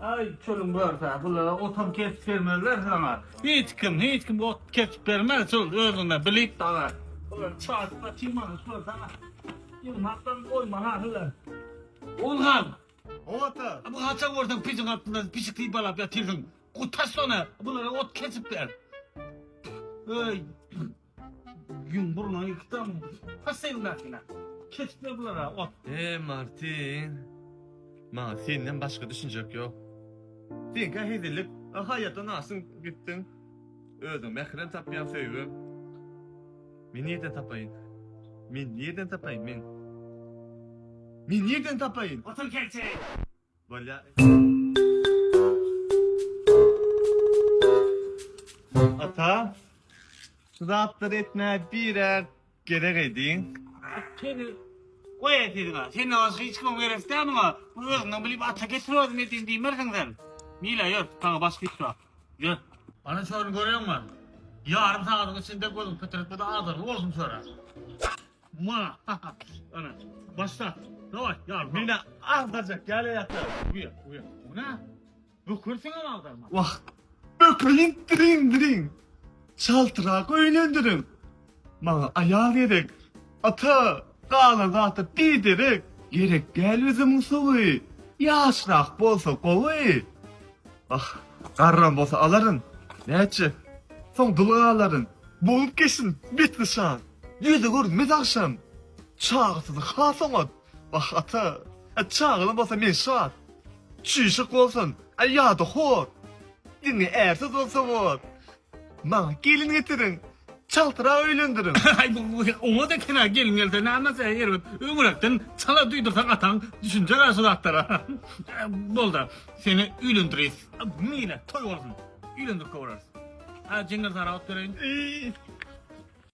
Aý çölüň börüsä bulara otam kesip bermezler saňa. Hiç kim, hiç kim ot kesip bermez çöl özüne bilip daga. Bular çaşma çymany şular saňa. Ýygnakdan goýma ha şular. Ozgan. Owata. Bu haça görseň pijiň altynda pişik sypalap ýatyrsyň. Gutaş şony. Bulara ot kesip ber. Öý. Gün burnuny ykydan pasyndakina. Kesip ber bulara ot. Eý Martin. Maňa senden başga düşünjek ýok. Sen kä hezillik, a haýatdan aşyň gitdiň. Özüň mährem tapýaň söýgim. Men nirden tapaýyn? Men nirden tapaýyn? Men. Men nirden tapaýyn? Otur kelçe. Ata, şu zatlar etme bire gerek edin. Seni koy edin ha. Sen az hiç kim gerek sen ha. Bu özünden bilip ata getir özüm edin diymersin sen. Mila yör, sana başka hiç yok. Yör. Ana şöyle görüyor musun? Yarın sağlık içinde gözüm pitirik bu da azırlı olsun şöyle. Ma ha ha. Ana. Başla. Daway. Ýar. Mine agdajak ýaly ýatar. Uýa, uýa. Muna. Bükürsiň hem agdarma. Wah. Bökeýin diriň diriň. Çaltrak öýlendirin. Maňa aýal gerek. Ata, galan zat-a biderek. Gerek däl üzümiň suwy. Ýaşrak bolsa gowy. Wah. Garram bolsa alaryn. Näçe? Soň dul galaryn. Bolup geçsin bet nyşan. Ýöne gör men agşam çagasyz has oňat. Wah ata, e çagaly bolsa men şat. Çüýşük bolsun, e ýa-da hor. Diňe ärsiz bolsa bor. Maňa gelin getiriň, çaltrak öýlendiriň. Aý bu oňat eken-ä gelin gelse nämekä erbet. Öňüräkden çala duýdursaň ataň düşünjer-ä şu zatlara. Bol-da, seni öýlendireýis. Meýli, toý bolsun. Öýlendirip goraris. Hä jeňňir sara ot bereýin.